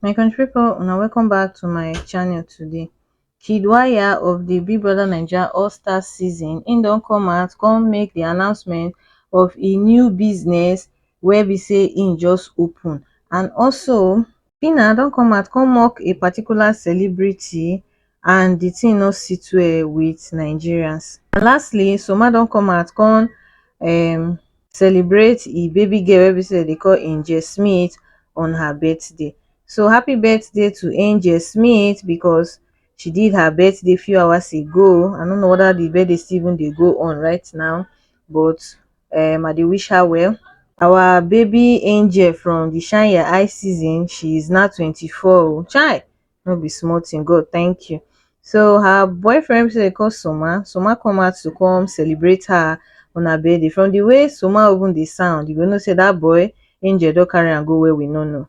my country pipo una welcome back to my channel today kid waya of di big brother naija all stars season im don come out come make di announcement of im new business wey be say im just open and also phyna don come out come mock a particular celebrity and di tin no sit well wit nigerians. And lastly, Soma don come out come um celebrate e baby girl wey be say dem dey call Angel Smith on her birthday. So happy birthday to Angel Smith because she did her birthday few hours ago. I no know whether di birthday still even dey go on right now but um i dey wish her well our baby angel from the shine ya eye season she is now twenty four o chai no be small thing god thank you so her boyfriend say call soma soma come out to come celebrate her on her birthday from the way soma even dey sound you go know say that boy angel don carry am go where we no know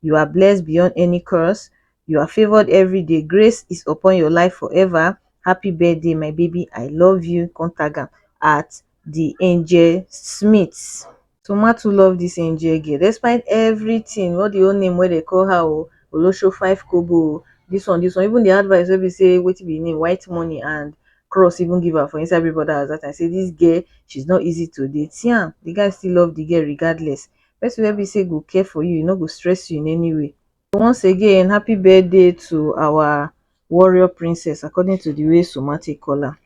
you are blessed beyond any curse you are favored every day grace is upon your life forever happy birthday my baby i love you contact am at the angel smith so ma too love this angel girl despite everything all the whole name wey dey call her o olosho five kobo o this one this one even the advice wey be say wetin be name white money and cross even give her for inside everybody house that time say this girl she's not easy to date see am the guy still love the girl regardless person wey be sey go care for you, e no go stress you in any way. Once again happy birthday to our warrior princess according to the way Suma take call am.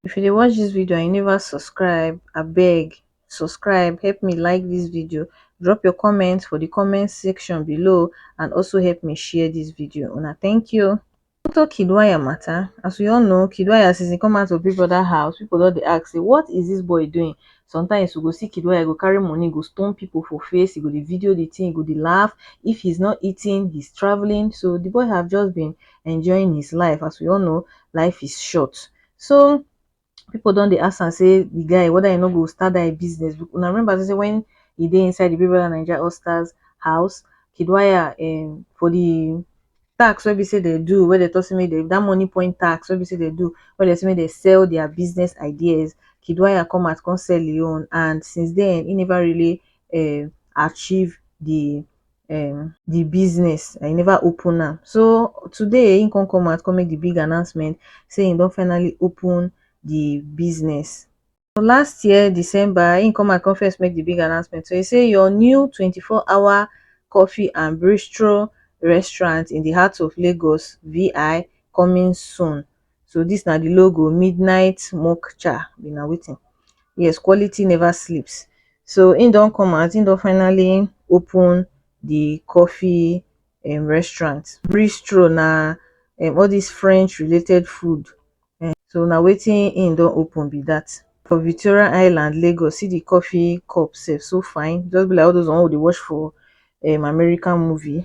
If you dey watch this video and you never subscribe, abeg subscribe, help me like this video, drop your comment for the comment section below and also help me share this video. Una thank you. Doctor Kiddwaya matter, as we all know Kiddwaya since he come out of Big Brother house, people don dey ask say what is this boy doing? Sometimes you go see Kiddwaya go carry money go stone people for face, he go dey video the thing, he go dey laugh. If he's not eating, he's traveling. So the boy have just been enjoying his life. As we all know, life is short. So people don dey ask am say the guy whether he no go start that him business be una remember say say when he dey inside the Big Brother Naija All Stars house Kiddwaya um for the tax wey be say dem do wey dem talk say make dem that money point tax wey be say dem do wey dem say make dem sell their business ideas Kiddwaya come out come sell him own and since then he never really um achieve the um the business and he never open am so today he come come out come make the big announcement say he don finally open the business so last year December he come out come first make the big announcement so he say your new 24 hour coffee and bistro restaurant in the heart of Lagos VI coming soon So dis na di logo midnight smoke cha be na wetin yes quality never sleeps so im don come out im don finally open di coffee um restaurant bistro na um all dis french related food um so na wetin im don open be dat for Victoria island Lagos see di coffee cup sef so fine just be like all those one wey we dey watch for um American movie.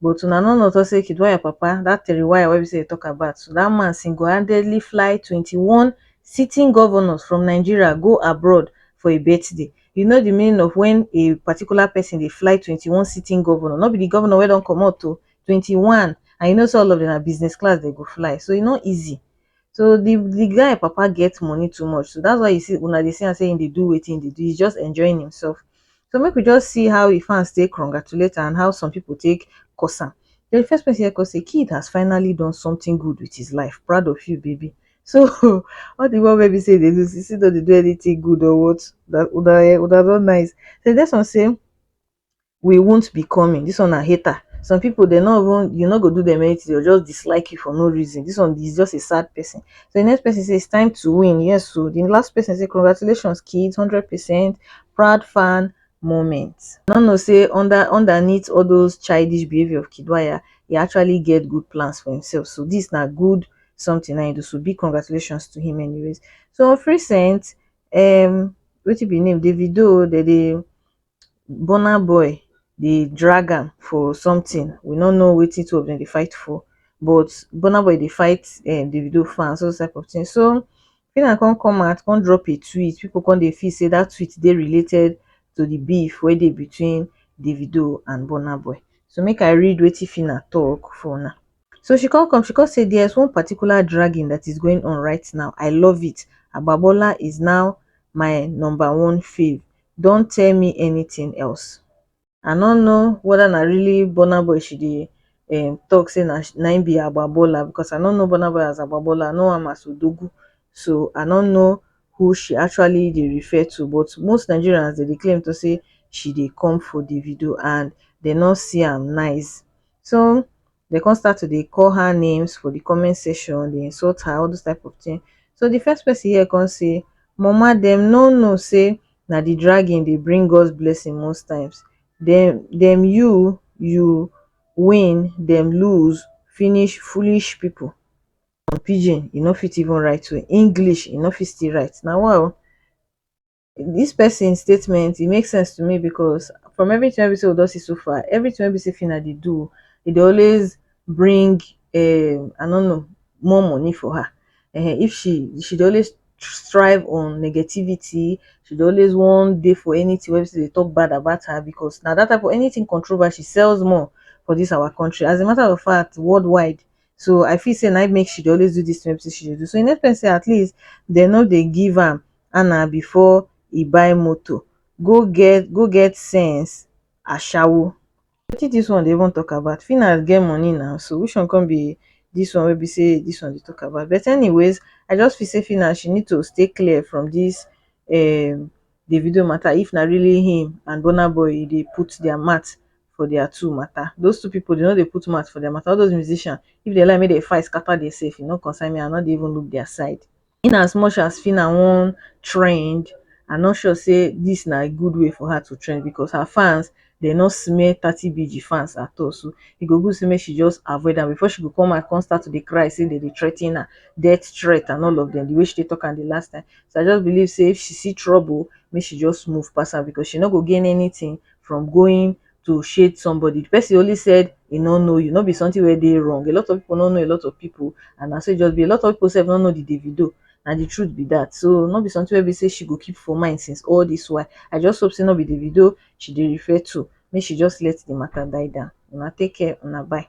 But una no know say Kiduwa your papa, that Teriwaya wey be say you talk about so, that man single handedly fly twenty one sitting governors from Nigeria go abroad for a birthday. You know the meaning of when a particular person dey fly twenty one sitting governor, no be the governor wey don comot o, twenty one and you know say all of them na business class dem go fly so e no easy. So the the guy papa get money too much so that's why you see una dey see am say he dey do wetin he dey do he's just enjoying himself so make we just see how the fans take congratulate am and how some people take curse am then the first person here come say kid has finally done something good with his life proud of you baby so all the one wey be say he dey do sisi no dey do anything good or what una una eh una no nice then the next one say we wont be coming this one na hater some people they no even you no go do them anything they will just dislike you for no reason this one is just a sad person so the next person say it's time to win yes so the last person say congratulations kids 100 percent proud fan moment no no say under underneath all those childish behavior of kidwaya he actually get good plans for himself so this na good something I do so big congratulations to him anyways so of recent um wetin be name davido they dey burna boy dey drag am for something we no know wetin two of dem dey fight for but burna boy dey fight um davido fans all those type of thing so Phyna come come out come drop a tweet people come dey feel say that tweet dey related to the beef wey dey between davido and burna boy so make I read wetin Phyna talk for una so she come come she come say there's one particular dragging that is going on right now I love it Agbabola is now my number one fave don tell me anything else i no know whether na really burna boy she dey um talk say na na him be agbabola because i no know burna boy as agbabola i know am as odogwu so i no know who she actually dey refer to but most nigerians dem dey claim to say she dey come for davido and dem no see am nice so dem come start to dey call her names for the comment section dey insult her all those type of thing so the first person here come say mama dem no know say na the dragging dey bring God's blessing most times dem dem you you win dem lose finish foolish people some pidgin e no fit even write well English e no fit still write na wa o dis person statement e make sense to me because from everything wey be sey we don see so far, everything wey be sey Phyna dey do, e dey always bring um I no know more money for her um if she she dey always strive on negativity, she dey always wan dey for anything wey be sey dem dey talk bad about her because na that type of anything controversy sells more for this our country as a matter of fact world wide so I feel sey na im make she dey always do this thing wey be sey she dey do so e make sense sey at least dem no dey give am ana before e buy motor go get go get sense ashawo. Wetin dis one dey even talk about Phynas get money na so which one come be dis one wey be say dis one dey talk about but anyways I just feel say Phynas she need to stay clear from dis um Davido matter if na really him and Burna Boy e dey put their mouth for their two matter those two people dey no dey put mouth for their matter all those musician if dem like make dem fight scatter themselves e no concern me I no dey even look their side. in as much as Phyna wan trend, I no sure sey dis na good way for her to trend because her fans dem no smell thirty BG fans at all so e go good sey make she just avoid am before she go come out come start to dey cry sey dem dey threaten her, death threat and all of dem de way she take talk am de last time. So I just believe sey if she see trouble make she just move pass am because she no go gain anything from going to shade somebody. The person only said he no know you, no be something where they wrong. A lot of people no know a lot of people, and I say just be a lot of people say no know the Davido. And the truth be that. So not be something where we say she go keep for mind since all this why. I just hope say not be Davido she did refer to. May she just let the matter die down. Una take care, una bye.